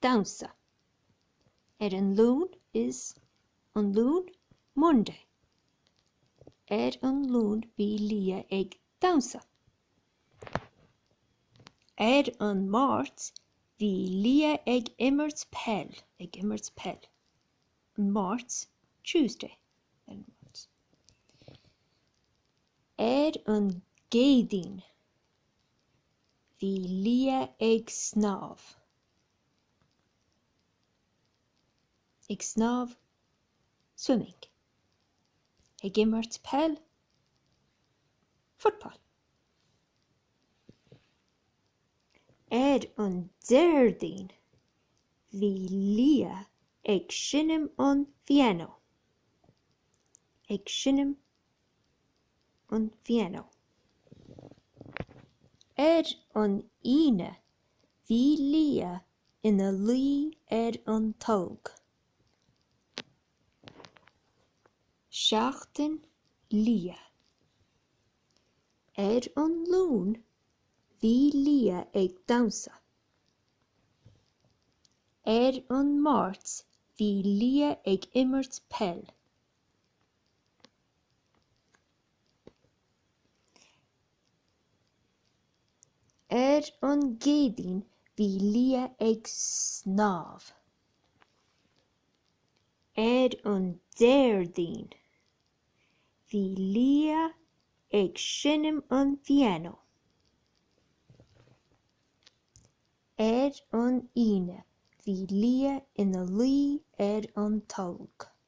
damhsa. Ar an Luan is an Luan Monday. Ar an Luan bhí Liadh ag damhsa. Ar an Máirt bhí Liadh ag imirt peil, ag imirt peil. An Mháirt, Tuesday. Ar an Máirt. Ar an gCéadaoin. Bhí Liadh ag snámh. Ag snámh, swimming. Ag imirt peil, football. Ar an Déardaoin, bhí Liadh ag seinm an phianó. Ag seinm. an phianó. Ar an Aoine bhí Liadh ina luí ar an tolg. Seachtain Liadh. Ar an Luan bhí Liadh ag damhsa. Ar an Máirt bhí Liadh ag imirt peil. Ar an gCéadaoin bhí Liadh ag snámh. Ar an Déardaoin bhí Liadh ag seinm an phianó. Ar an Aoine bhí Liadh ina luí ar an tolg.